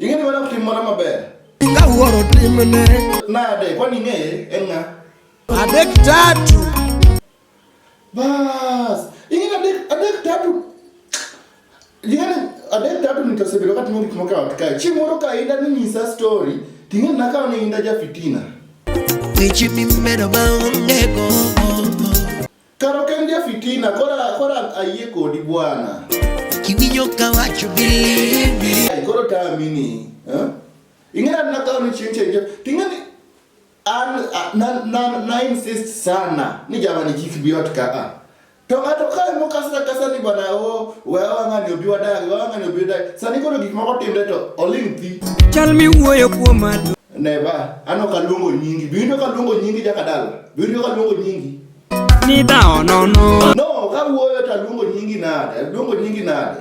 ing'eni mana kutim mana maber ingawuoro timne nade kwani ing'eye en ng'a adek tatu Bas. Ingine adek adek tatu. Ingine adek tatu nitasebedo kati mo gik moko e ot kae. Chieng' moro ka inda ni nyisa story, ting'e nakawo ni inda ja fitina. Weche mimedo ma onge gombo. Karo ok en ja fitina, kora kora ayie kodi bwana. Kiwinjo ka wacho believe me. Ai, Koro tamini. Eh? Ing'e nakawo ni chieng' chieng' ting'e ni an na na na insist sana ni jamani kik bi ot ka a to ng'ato kae mokasra kasa ni bwana o we wang'ani obi wadagi wang'ani obi wadagi sani koro gik moko timre to oling thi chal miwuoyo kuom adu neba an ok aluongo nyingi biwinjo ka luongo nyingi jakadala biwinjo ka luongo nyingi ni dhawo nono no kawuoyo to aluongo nyingi nade aluongo nyingi nade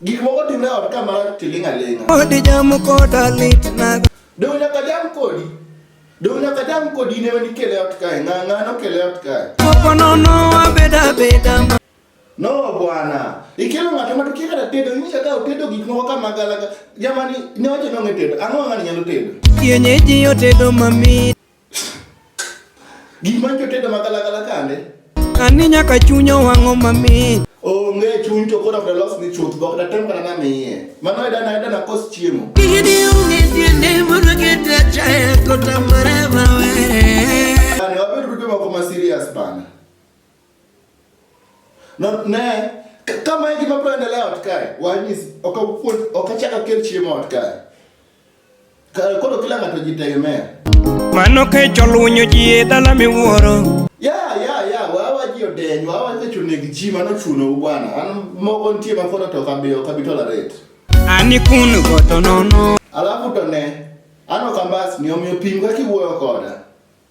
Gik moko timre ot ka mar tiling' aling'a. Odi jamo koda lit nago. Dong' nyaka jam kodi. Dong' nyaka jam kodi ne wani kele ot kae. Ng'a ng'a no kele ot kae. Popo nono abeda beda. No bwana. Ikelo ng'ato ma tukia kata tedo. Inyisa ka otedo gik moko ka magalaga. Jamani ne wacho ni ong'e tedo. Ang'o ng'ani nyalo tedo? Kienyeji otedo mamit. Gik ma jotedo magalagala kande. Ani nyaka chunya wang'o mamit. Onge chuny to koro ok los ni chuth bok da tem kana miye. Mano ida na ida na kos chiemo. Gidi unge tiende moro kete chaya kota marema were. Ani wabed rujo mako ma serious bana. Na ne kama e gima biro endelea ot kae. Wanyisi ok apuonj ok achak akel chiemo ot kae. Ka- Koro kila ng'ato jitegemea. Mano kecho lunyo ji e dala miwuoro Ya ya ya wawa ji odeny wawa kecho negi ji mano chuno u bwana. An mogo nitie ma koro to kabi ok abi tolerate. Ani kun goto nono Alafu to ne an ok ambasni omiyo pim kaka iwuoyo koda.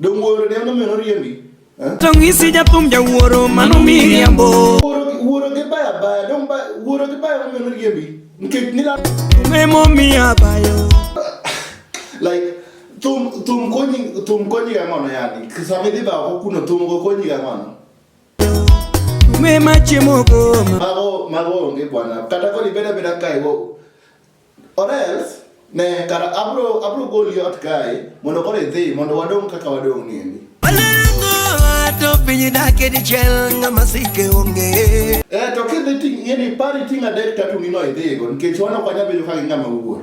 Dong wuoro ne ono mero riembi. Eh? To ng'isi jathum jawuoro mano miriambo. Wuoro gi baya baya dong wuoro gi baya ono mero riembi. Nikech nila. Memo miya bayo. Like thum thum konyi thum konyi ga mono yani. Sama idhi ba ko kuno thum go konyi ga mono. Mema chiemo goma. Mago mago onge bwana. Kata koni beda beda kai go. Or else, ne, kara abro, abro goli ot kae, mondo koro idhi, mondo wadong' kaka wadong' niendi. Alengo ato piny dake dichiel ng'ama sike onge. Eh, to kidhi ting' ng'eni pari ting' adek tatu nino idhigo nikech wan ok wanyal bedo ka gi ng'ama wuor.